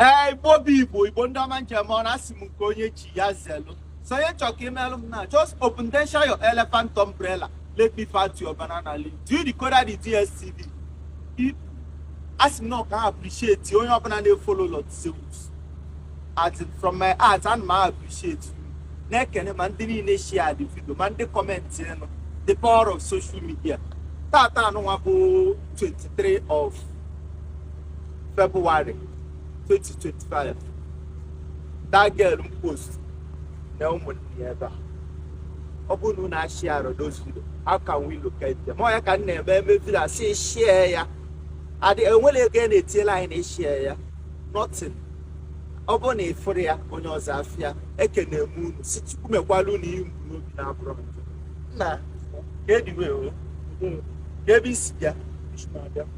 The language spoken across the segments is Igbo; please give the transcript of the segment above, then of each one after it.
ee igbo bụ igbo igbo ndị ọma njem ọ na-asị m nke onye chi ya zelu so onye chọrọ ka i melụ m now just open then share your elephant umbrella let me fight your banana leaf do you decode the dstv asị m ka m appreciate onye ọbụla na-efolo lord zeus as in from my heart ana m appreciate you na-ekene ma ndị niile share the video ma ndị kọmentị nụ the power of social media tata anụnwa bụ 23 of February 2025 that girl m post na ụmụnne ya ebe a ọ bụrụ na unu asharerọ those video how can we locate them ọ ya ka m na-eme eme video asị share ya adị enwere ego a na-etiela anyị na ịshare ya nothing ọ bụrụ na ị fụrọ ya onye ọzọ afụ ya ekene m unu sị chukwu mekwala unu ihe unu bu n'obi na-abụrọ njọ. nna kedu way o kee ebe i si bịa i si na-abịa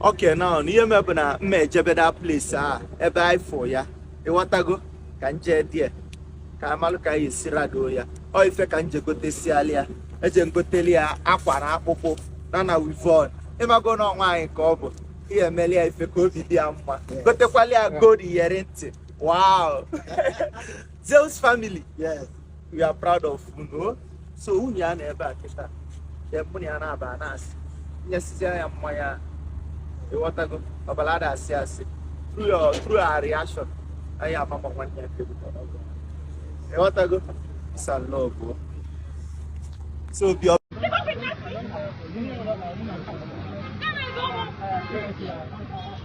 okay nna ihe me bụ na m ma ejebe the place a ebe anyị fụ ya ịghọtago ka m je there ka amalụ ka anyị esi rado ya ọ ife ka m je gotesiali ya eje m goteli ya akwa na akpụkpụ na na weavon ị mago na ọ nwaanyị ka ọ bụ ihe emeli ya ife ka obi dị ya mma gotekwali ya gold iyeri ntị wow Zeus family yes we are proud of unu so nwunye ya nọ ebe a kịta then mụ na ya na-aba na-asị nyesizie ya mmanya ịghọtago ọbara ada asị asị through your through our reaction anyị ama ma nwanne ya nke bụ ọgụ. ịghọtago peace and love o. so obi ọ Thank you.